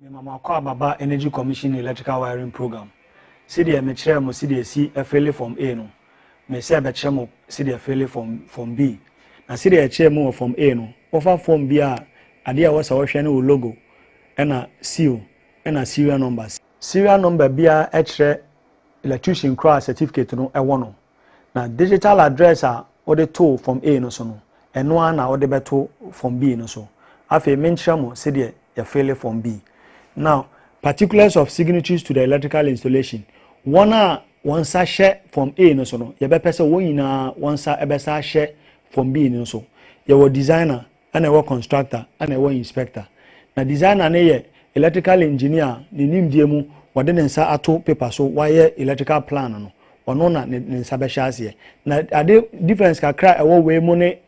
Mema mo akwaaba ba Energy Commission Electrical Wiring Program. Sedeɛ mekyerɛɛ mo sedeɛ yɛsi fele Form A no, mesɛ bɛkyerɛ mo sedeɛ fele Form Form B. Na sedeɛ yɛkyerɛɛ mo wɔ Form A no, wofa Form B a, adeɛ a ɛwɔ sɛ wohwɛ ne wo logo, ɛna seal, ɛna serial number. Serial number biara kyerɛ electrician korɔ a certificate no wɔ no. Na digital address a wode too form A no so no, ɛno ara na wode bɛto form B no so. Afei menkyerɛ mo sedeɛ yɛfeele form B. Now, particulars of signatories to the electrical installation. Wɔn a wɔn nsa hyɛ form A no so no, yɛbɛpɛ sɛ wɔn nyinaa wɔn nsa bɛsa ahyɛ form B no so. Yɛwɔ designer, ɛna ɛwɔ constructor ɛna ɛwɔ inspector. Na designer no yɛ electrical engineer a ne nimdeɛ mu wɔde ne nsa ato paper so wayɛ electrical plan no ɔno na ne nsa bɛhyɛ aseɛ. Na ade difference kakra a ɛwɔ wei mu ne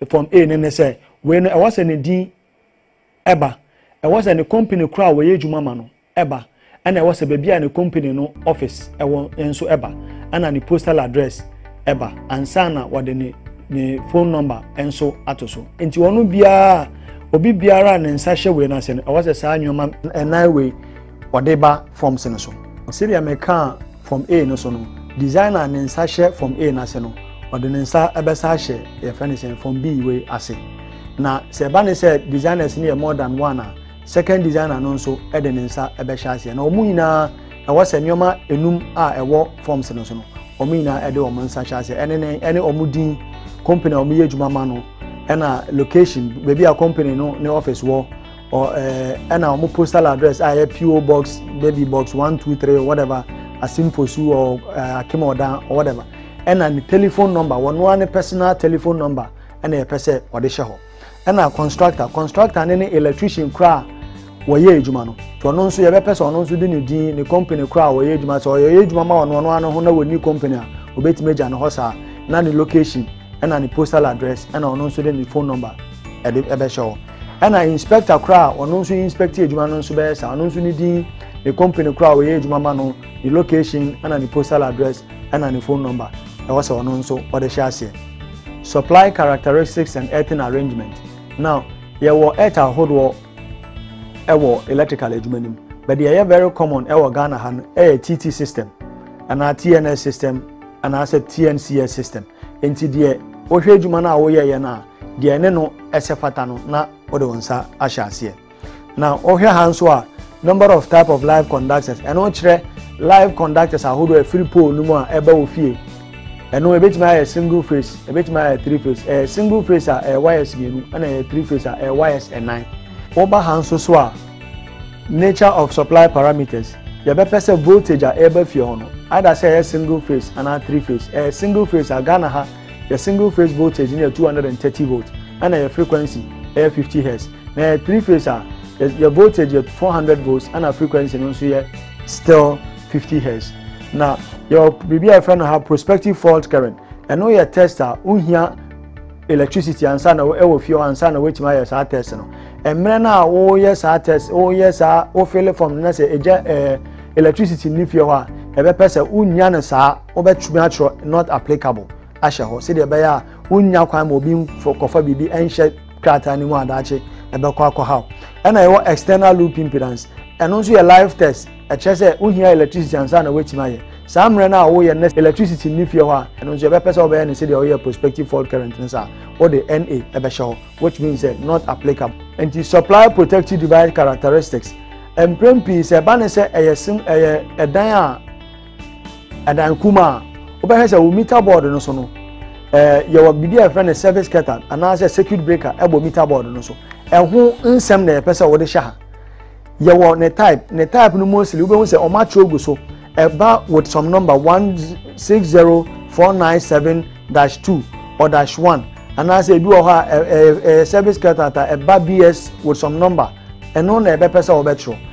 form A no ne sɛ wei no ɛwɔ sɛ ne din ɛba ɛwɔ sɛ ne company korɔ a wɔyɛ adwuma ma no ɛba, ɛna ɛwɔ sɛ baabi a ne company no office ɛwɔ nso ɛba, ɛna ne postal address ɛba ansa na wɔde ne ne phone number nso ato so. Nti wɔn biara obi biara a ne nsa hyɛ wei no ase no ɛwɔ sɛ saa nneɛma nnan wei wɔde ba forms no so. Sɛdeɛ mekaa form A no so no, designer ne nsa hyɛ form A no ase no, ɔde ne nsa ɛbɛsa ahyɛ yɛfrɛ ne sɛn form B wei ase. Na sɛ ɛba ne sɛ designers no yɛ more than one a, Second designer no nso de ne nsa bɛhyɛ aseɛ na wɔn nyinaa ɛwɔ sɛ nneɛma enum a ɛwɔ forms no so no wɔn nyinaa de wɔn nsa hyɛ aseɛ ɛne ne ɛne wɔn din company a wɔyɛ adwuma ma no ɛna location baabi a company no ne office wɔ ɔ ɛɛ ɛna wɔn postal address a ɛyɛ PO box baby box one two three whatever asimfosu ɔ ɛɛ akim ɔdan or whatever ɛna ne telephone number wɔn ara ne personal telephone number ɛna yɛpɛ sɛ wɔde hyɛ hɔ. ɛna constructor constructor ne ne electrician kora a wɔyɛ adwuma no nti ɔno nso yɛbɛpɛ sɛ ɔno nso de ne din ne company kora a wɔyɛ adwuma sɛ ɔyɛ adwuma ma ɔno ɔno ano ho na wɔni company a wɔbɛtumi agya ne hɔ saa na ne location ɛna ne postal address ɛna ɔno nso de ne phone number ɛde ɛbɛhyɛ hɔ ɛna inspector kora a ɔno nso inspect adwuma no nso bɛyɛ saa ɔno nso ne din ne company kora a wɔyɛ adwuma ma no ne location ɛna ne postal address ɛna ne phone number ɛwɔ sɛ ɔno nso ɔde hyɛ aseɛ. Supply characteristics and earthing arrangement. Now, yɛwɔ earth ahodoɔ ɛwɔ electrical adwuma no mu. But deɛ ɛyɛ very common ɛwɔ Ghana ha no ɛyɛ TT system anaa TNS system anaasɛ TNCS system. Nti deɛ wohwɛ adwuma no a woyɛeɛ no a, deɛ ɛne no ɛsɛ fata no na wode wo nsa ahyɛ aseɛ. Na wɔhwɛ ha nso a number of type of live conductors ɛno kyerɛ live conductors ahodoɔ ɛfiri pole no mu a ɛba wɔ fie ɛno ebetumi ayɛ single phase ebetumi ayɛ three phase ɛyɛ single phase a ɛyɛ wires mmienu ɛna ɛyɛ three phase a ɛyɛ wires ɛnan wɔba ha nso so a nature of supply parameters yɛbɛpɛ sɛ voltage a ɛreba fie hɔ no either sɛ ɛyɛ single phase anaa three phase ɛyɛ single phase a ghana ha Yɛ single phase voltage no yɛ 230 volt ɛna yɛ frequency ɛyɛ 50 hertz na yɛ three phase a yɛ voltage yɛ 400 volts ɛna frequency no nso yɛ still 50 hertz na yɛ biribi a yɛfrɛ no ha prospective fault current ɛno yɛ test a wohia electricity ansa na ɛwɔ fie hɔ ansa na wɔatumi ayɛ saa test no mmerɛ no a woyɛ saa test woyɛ saa wofele form no na sɛ ɛgya ɛɛ electricity ne fie hɔ a ɛbɛpɛ sɛ wonya no saa wobɛtumi atwerɛ not applicable ahyɛ hɔ sɛdeɛ ɛbɛyɛ a wonnya kwan ma obi kɔfa biribi ɛnhyɛ krataa no mu adaakye ɛbɛkɔ akɔhaw ɛna ɛwɔ external loop impedance ɛno nso yɛ life test ɛkyerɛ sɛ wohia electricity ansa na woatumi ayɛ saa mmerɛ no a woyɛ na electricity nni fie hɔ a ɛno nso yɛbɛpɛ sɛ wobɛyɛ no sɛdeɛ woyɛ prospective fault current no saa wode na ɛbɛhyɛ hɔ which means sɛ not applicable nti supply protective device characteristics mprɛn pii sɛ ɛba ne sɛ ɛyɛ sim ɛyɛ ɛdan a ɛdan kum a wobɛhwɛ sɛ wo meter board no so no ɛɛ yɛwɔ biribi a yɛfrɛ no service curtain anaasɛ circuit breaker ɛbɔ meter board no so ɛho nsɛm na yɛpɛ sɛ wɔde hyɛ ha yɛwɔ ne type ne type no mostly wobɛhu sɛ wɔn atwerɛ gu so ɛba with some number one six zero four nine seven dash two or dash one anaasɛ ebi wɔ hɔ a ɛɛ ɛɛ service curtain ta ɛba bs with some number ɛno na ɛbɛpɛ sɛ wɔbɛtwerɛ.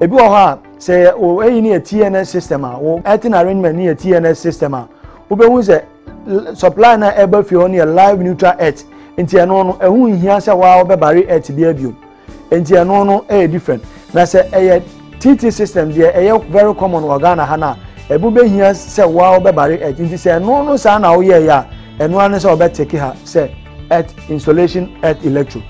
Ebi wɔ hɔ a, sɛ wo eyi no yɛ TNS system a, wo earthing arrangement no yɛ TNS system a, wobɛhu sɛ supply no a ɛba fie hɔ no yɛ live neutral earth. Nti ɛno no, ɛho nhia sɛ waa wobɛbare earth bi abio. Nti ɛno no ɛyɛ different. Na sɛ ɛyɛ TT system deɛ ɛyɛ very common wɔ Ghana ha no a, ɛbo bɛhia sɛ waa wobɛbare earth. Nti sɛ ɛno no saa na woyɛeɛ a, ɛno ara ne sɛ wɔbɛteke ha sɛ earth installation earth electro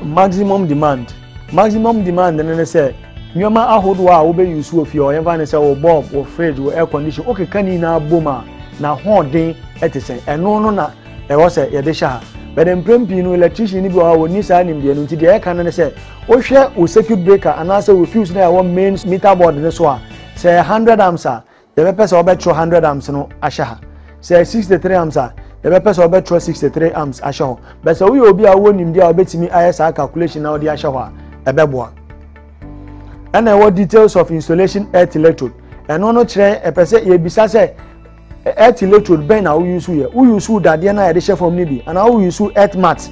maximum demand. Maximum demand no ne sɛ nneɛma ahodoɔ a wobɛ use wɔ fie hɔ, yɛmfa ne sɛ wo bulb, wo fridge, wo air condition, wokeka ne nyinaa bom a, n'ahoɔden te sɛn? Ɛno no na ɛwɔ sɛ yɛde hyɛ ha. But mprɛn pii no electrician no bi wɔ hɔ a wɔnni saa nimdeɛ no nti deɛ yɛka no ne sɛ wohwɛ wo circuit breaker anaasɛ wo fuse no a ɛwɔ main meter board no so a, sɛ ɛyɛ 100 amps a, Yɛbɛpɛ sɛ wɔbɛtwerɛ hundred amps no ahyɛ ha. Sɛ ɛyɛ sixty three amps a, yɛbɛpɛ sɛ wɔbɛtwerɛ sixty three amps ahyɛ hɔ. Bɛ sɛ woyɛ obi a wowɔ nimdeɛ a wobɛtumi ayɛ saa calculation na wode ahyɛ hɔ a, ɛbɛboa. Ɛna ɛwɔ details of installation earth electrode. Ɛno no kyerɛ ɛpɛ sɛ yɛbisa sɛ earth electrode bɛn na woyusu yɛ. Woyusu dadeɛ no a yɛde hyɛ fam no bi anaa woyusu earth mat.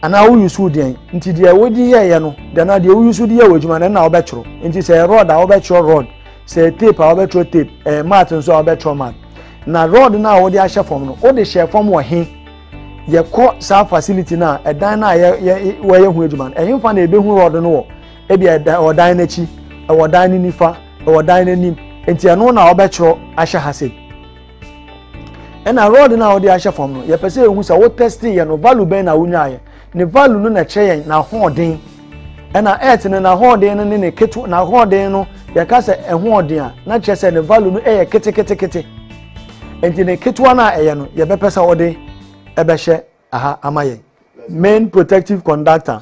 Anaa wo use wo deɛn nti deɛ wo de yɛɛyɛ no deɛ na deɛ wo use de yɛ wɔ adwuma no na wo bɛtwerɛ nti sɛ ɛyɛ rod a wobɛtwerɛ rod sɛ ɛyɛ tape a wobɛtwerɛ tape ɛyɛ mat nso a wobɛtwerɛ mat na rod no a wode ahyɛ fam no wode hyɛ fam wɔ he yɛkɔ saa facility no a ɛdan no a wɔyɛ ho adwuma no ɛhefa na ɛbɛhu rod no wɔ ebi ɛwɔ dan no akyi ɛwɔ dan no nifa ɛwɔ dan no anim nti ɛno na wobɛtwerɛ ahyɛ ha sei ɛna rɔd no a wɔde ahyɛ fam no yɛpɛ sɛ yɛhu sɛ wotɛste yɛ no value bɛn na wonyaeɛ ne value no na ɛkyerɛ yɛn n'ahoɔden ɛna earth no n'ahoɔden no ne ne keto n'ahoɔden no yɛka sɛ ɛhoɔden a na kyerɛ sɛ ne value no yɛ ketekete nti ne ketewa no a ɛyɛ no yɛbɛpɛ sɛ wɔde ɛbɛhyɛ aha ama yɛn main protective conductor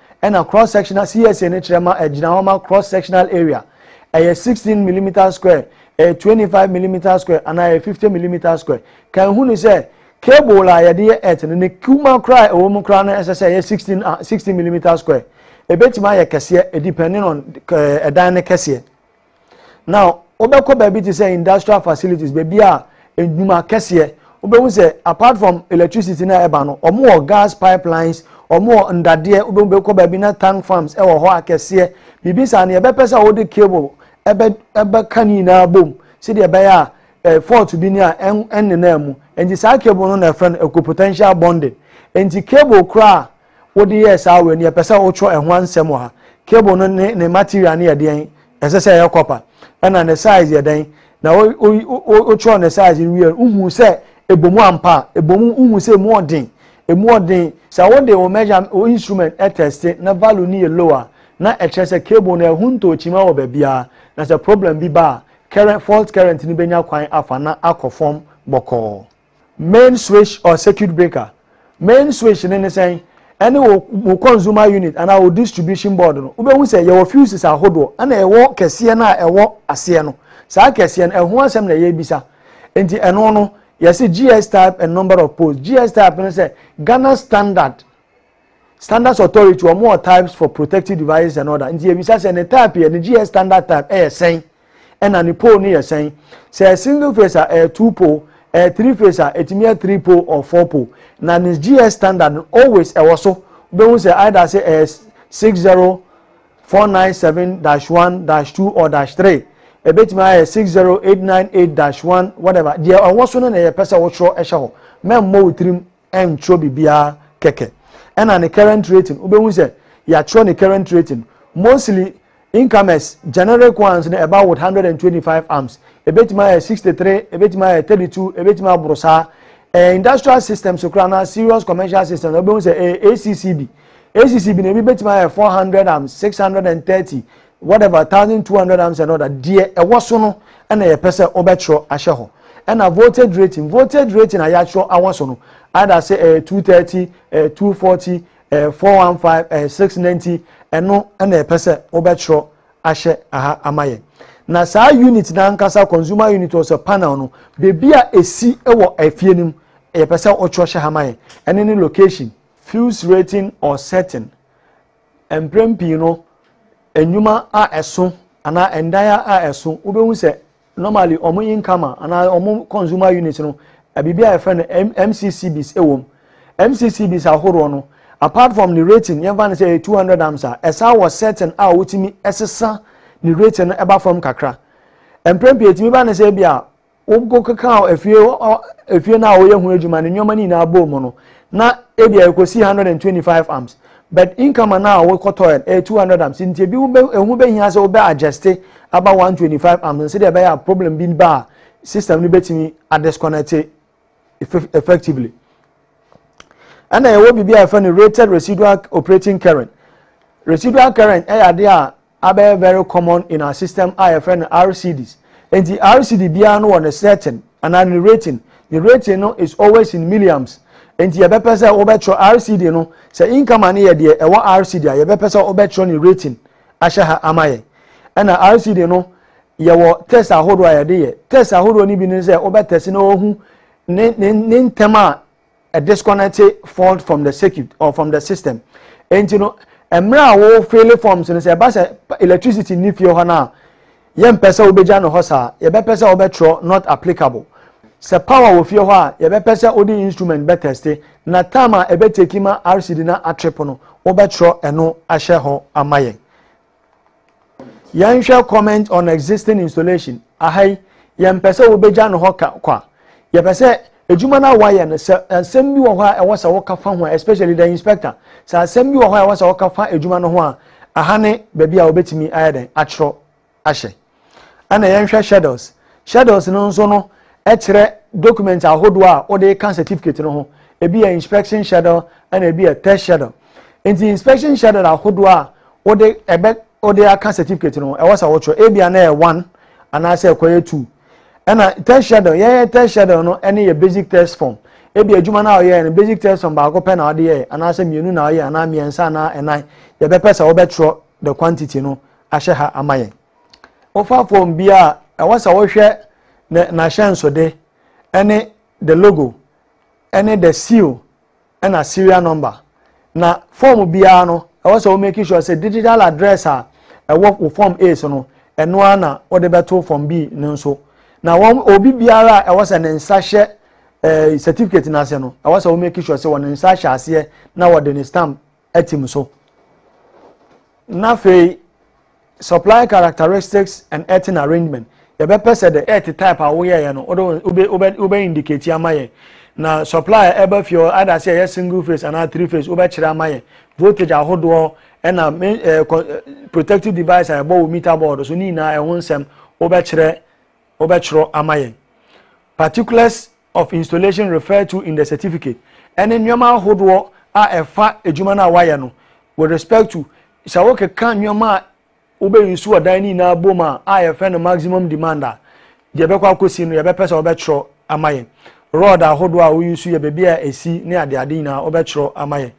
ɛna cross sectional CSA no kyerɛ ma ɛgyina hɔ ma cross sectional area ɛyɛ sixteen millimeter square ɛyɛ twenty five millimeter square anaa ɛyɛ fifty millimeter square kan hu no sɛ cable a yɛde yɛ earth no ne kuma koraa a ɛwɔ mu koraa no ɛsɛ sɛ ɛyɛ sixteen ah sixty millimeter square ebetumi ayɛ kɛseɛ depending on ɛdan no kɛseɛ. Now, wobɛkɔ baabi te sɛ industrial facilities, baabi a nnwuma kɛseɛ, wobɛhu sɛ apart from electricity na ɛba no, wɔn wɔ gas pipelines, wɔn wɔ ndadeɛ, wobɛhu bɛkɔ baabi na tank farms ɛwɔ hɔ akɛseɛ, biribi saa no yɛbɛpɛ sɛ wode cable ɛbɛ ɛbɛka ne nyinaa bom sɛdeɛ ɛbɛyɛ a eh, fault bi ni a ɛnnenaa mu. Nti saa cable no na ɛfrɛ no equipotential bonding. Nti cable koraa wode yɛɛ saa wei no yɛpɛ sɛ wotwerɛ ɛho ansɛm wɔ ha cable no ne ne material no yɛ deɛn ɛsɛ sɛ ɛyɛ copper ɛna ne size yɛ dɛn na wotwerɛ ne size no wie wohu sɛ ɛbɔ mu ampa a ɛbɔ mu wohu sɛ ɛmu ɔden ɛmu ɔden sɛ wode wo measure wo instrument ɛtɛste na value no yɛ low a na ɛkyerɛ sɛ cable no ɛho ntɔɔkyima wɔ baabiara na sɛ problem bi ba a current fault current no bɛnya kwan afa na akɔ fam bɔkɔɔ Main switch or circuit breaker, Main switch no ne sɛn? Ɛne wo wo consumer unit anaa wo distribution board no. Wobɛhu sɛ yɛwɔ fuses ahodoɔ ɛna ɛwɔ kɛseɛ no a ɛwɔ aseɛ no. Saa kɛseɛ no ɛho asɛm na yɛrebisa. Nti ɛno no yɛse GS type and number of poles. GS type no sɛ Ghana standard standards authority wɔn wɔ types for protective devices and other nti yɛbisa sɛ ne type yɛ ne gs standard type ɛyɛ sɛn ɛna ne pole no yɛ sɛn sɛ ɛyɛ single phase a ɛyɛ two pole ɛyɛ three phase a ɛtumi yɛ three pole or four pole na ne gs standard no always ɛwɔ so wobɛhu sɛ either sɛ ɛyɛ six zero four nine seven dash one dash two or dash three ɛbɛtumi ayɛ six zero eight nine eight dash one whatever deɛ ɛwɔ so no na yɛpɛ sɛ wɔtwerɛ ɛhyɛ hɔ mɛmmɔ wo tirim ɛntwerɛ biribiara kɛkɛ ɛna ne current rating wobɛhu sɛ yɛatwerɛ ne current rating mostly incomers generic ones no ɛba with 125 amps ɛbɛtumi ayɛ 63 ɛbɛtumi ayɛ 32 ɛbɛtumi aboro saa eh, industrial systems so koraa na serious commercial systems wobɛhu sɛ eh, accb accb no ebi bɛtumi ayɛ 400 amps 630 whatever thousand two hundred amps and all that deɛ ɛwɔ so no ɛna yɛpɛ sɛ ɔbɛtwerɛ ahyɛ hɔ ɛna voltage rating voltage rating a yɛatwerɛ awɔ so no either sɛ ɛyɛ two thirty ɛyɛ two forty ɛyɛ four one five ɛyɛ six ninety ɛno ɛna yɛpɛ sɛ ɔbɛtwerɛ ahyɛ aha ama yɛn na saa unit n'ankasa consumer unit wɔ sɛ panel no beebi a esi wɔ efie no mu yɛpɛ sɛ ɔtwerɛ hyɛ ha ma yɛn ɛne ne location fuse rating or setting Mprɛn pii no, nnwuma a ɛso anaa ndan a ɛso, wobɛhu sɛ normally wɔn income a anaa wɔn consumer unit no, biribi a yɛfrɛ no MCCBs wɔ mu. MCCBs ahoroɔ no, apart from ne rating, yɛmfa no sɛ ɛyɛ 200 amps a, ɛsan wɔ setting a wotumi sesa ne rating no ba fam kakra. Mprɛn pii ɛtumi ba ne sɛ ebi a wo mpo kekaa efie hɔ efie no a wɔyɛ ho adwuma ne nneɛma no nyinaa bɔɔ mu no na ebi a ɛkɔsi one hundred and twenty five amps but income no a wokɔtɔɛ no ɛyɛ two hundred amps nti ebi ehu bɛhia sɛ wobɛ adjust aba one twenty five amps no sɛdeɛ ɛbɛyɛ a problem bi ba a system no bɛtumi adisconnect effectively ɛna ɛwɔ biribi a yɛfrɛ no rated residual operating current residual current ɛyɛ adeɛ a abɛyɛ very common in our system a yɛfrɛ no RCDs. Enti RCD biara no wɔ ne setting anaa ne rating. Ne rating no is always in milliams. Enti yɛbɛpɛ sɛ wobɛtwerɛ RCD no, sɛ income a no yɛ deɛ ɛwɔ RCD a, yɛbɛpɛ sɛ wobɛtwerɛ ne rating ahyɛ ha ama yɛn. Ɛna RCD no, yɛwɔ test ahodoɔ a yɛde yɛ. Test ahodoɔ no bi ne sɛ wobɛtɛse na wɔahu ne, ne, ne ntɛm a disconnected fault from the circuit or from the system nti no mmerɛ a wo file forms no sɛ ɛba sɛ electricity ni fie hɔ no a yɛmpɛ sɛ wobɛgya no hɔ saa yɛbɛpɛ sɛ wobɛtwerɛ not applicable sɛ power wɔ fie hɔ a yɛbɛpɛ sɛ wode instrument bɛtɛste na time a ɛbɛteki ma rcd na atrip no wobɛtwerɛ ɛno ahyɛ hɔ ama yɛn Yɛnhwɛ comment on existing installation. Aha yi, yɛmpɛ sɛ wobegya no hɔ ka kwa. Yɛpɛ sɛ adwuma no a wɔayɛ no, sɛ asɛm bi wɔ hɔ a ɛwɔ sɛ woka fa ho a, especially the inspector, sɛ asɛm bi wɔ hɔ a ɛwɔ sɛ woka fa adwuma no ho a, aha ne baabi a wobetumi ayɛ dɛn akyerɛw ahyɛ. Ɛna yɛnhwɛ schedules. Schedules no nso no kyerɛ document ahodoɔ a wode ka certificate no ho. Ebi yɛ inspection schedule ɛna ebi yɛ test schedule. Nti inspection schedule ahodoɔ a wode ɛbɛ wode aka certificate no ho ɛwɔ sɛ wotwerɛ. Ebia na yɛ one anaasɛ ɛkɔyɛ two. Ɛna test schedule yɛyɛ test schedule no ɛne yɛ basic test form. Ebia adwuma no a woyɛɛ no basic test form baako pɛ na wode yɛɛ anaasɛ mmienu na woyɛɛ anaa mmiɛnsa anaa ɛnan. Yɛbɛpɛ sɛ wobɛtwerɛ the quantity no ahyɛ ha ama yɛn. Wofa fon bi a, ɛwɔ sɛ wohwɛ ne n'ahyɛnsode ne the logo ne the seal na serial number. Na fɔm biara no, ɛwɔ sɛ wo make sure sɛ digital address a ɛwɔ wo fɔm A so no, ɛno ara na wode bɛto fɔm B no nso. Na wɔn obi biara a ɛwɔ sɛ ne nsa hyɛ eh, certificate no ase no, ɛwɔ sɛ wo make sure sɛ wɔn nsa hyɛ aseɛ na wɔde ne stamp atim so. Na afei supply characteristics and earthing arrangement yɛbɛpɛ sɛ the earth type a woyɛeɛ no wobɛ indicate ama yɛn na supply a ɛba fie hɔ ada sɛ ɛyɛ single phase anaa three phase wobɛkyerɛ ama yɛn voltage ahodoɔ ɛna eh, eh, protective device a ɛbɔ wo meter board so ne nyinaa ɛho nsɛm wobɛkyerɛ wobɛkyerɛ ama yɛn particulars of installation referred to in the certificate ɛne nneɛma ahodoɔ a ɛfa adwuma no a wayɛ no with respect to sɛ wokeka nneɛma a wobɛ nsu ɔdan no nyinaa bom a a yɛfrɛ no maximum demand a deɛ ɛbɛkɔ akɔsi no yɛbɛpɛ sɛ wɔbɛtwerɛ ama yɛn rod ahodoɔ a woyi nsu yɛ baabi a ɛsi ne adeade nyinaa wɔbɛtwerɛ ama yɛn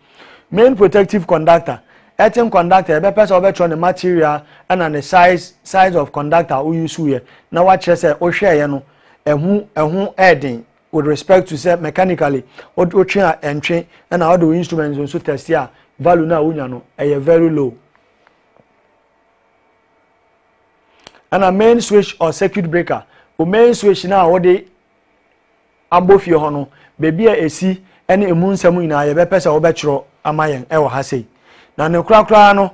main protective conductor ɛtin conductor yɛbɛpɛ sɛ wɔbɛtwerɛ ne material ɛna ne size size of conductor woyi nsu yɛ na wakyerɛ sɛ wohwɛɛyɛ no ɛho ɛho ɛɛden with respect to sɛ mechanically wotwe a ɛntwe ɛna wode wo instruments nso test a value no a wonya no ɛyɛ very low ɛna main switch or circuit breaker o main switch no a wode abɔ fie hɔ no baabi a ɛsi ɛne ɛmu nsɛm nyinaa yɛbɛpɛ sɛ wobɛkyerɛ ama yɛn ɛwɔ ha sei na ne korakoraa no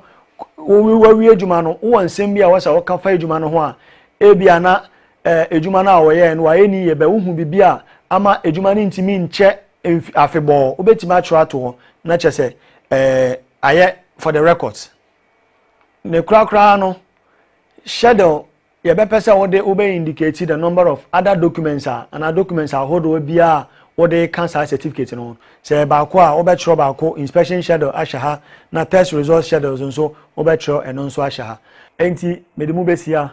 wawie adwuma no wowɔ nsɛm bi a wɔsɛ woka fa adwuma no ho a ebia na Edwuma no a wɔyɛe no, wɔayɛ no yiye? Bɛ, wuhu biribi a ama edwuma no ntumi nkyɛ mfi afebɔɔ? Wubetumi akyerɛw ato hɔ na kyerɛ sɛ ayɛ for the records? Ne korakoraa no, hyɛdɛw yɛbɛpɛ sɛ wode wobɛ indicate the number of other documents a, anaa documents ahodoɔ biara a wode reka saa certificate no ho. Sɛ ɛyɛ baako a, wobɛkyerɛw baako inspection schedule ahyɛ ha, na test results schedules nso, wobɛkyerɛw ɛno nso ahyɛ ha. Enti mede mo besi ha.